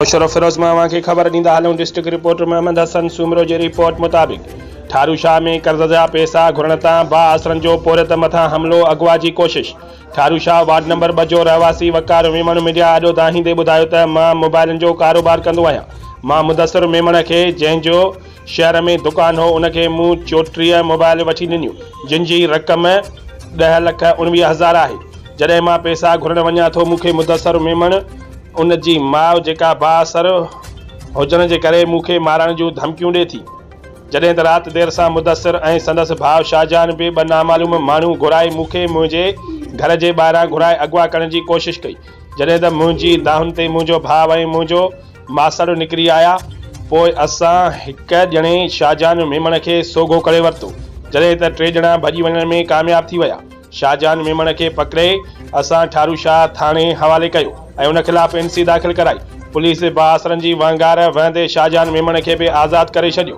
مشرف فيروز مان اوهان کي خبر ڏيندا هلون ڊسٽرڪٽ رپورٽر محمد حسن سومرو جي رپورٽ مطابق ٺارو شاهه ۾ قرض جا پيسا گهرڻ تان بااثرن جو پورهيت مٿان حملو اغوا جي ڪوشش ٺارو شاهه وارڊ نمبر ٻه جو رهواسي وقار ميمڻ ميڊيا آڏو دانهيندي ٻڌايو ته مان موبائلن جو ڪاروبار ڪندو آهيان مان مدثر ميمڻ کي جنهن جو شهر ۾ دڪان هو، ان کي مون چوٽيهه موبائل وٺي ڏنيون، جن جي رقم ڏهه لک اڻويهه هزار آهي. جڏهن مان پئسا گهرڻ وڃان ٿو، مون کي مدثر ميمڻ، ان جي ماء جيڪا بااثر هجڻ جي ڪري مون کي مارڻ جون ڌمڪيون ڏي ٿي. جڏهن ته رات دير سان مدثر ۽ سندس ڀاء شاهجهان به ٻه نامعلوم ماڻهو گهرائي مون کي منهنجي گهر جي ٻاهران گهرائي اغوا ڪرڻ جي ڪوشش ڪئي، جڏهن ته منهنجي دانهن تي منهنجو ڀاء ۽ منهنجو ماسڙ نڪري آيا. پوء اسان هڪ ڄڻي شاهجهان ميمڻ کي سوگهو ڪري ورتو، جڏهن ته ٽي ڄڻا ڀڄي وڃڻ ۾ ڪامياب ٿي ويا. شاهجهان ميمڻ کي پڪڙي اسان ٺارو شاهه ٿاڻي حوالي ڪيو ۽ ان خلاف اين سي داخل ڪرائي. پوليس باسرن جي وهنگار وهندي شاهجهان ميمڻ کي به آزاد ڪري ڇڏيو.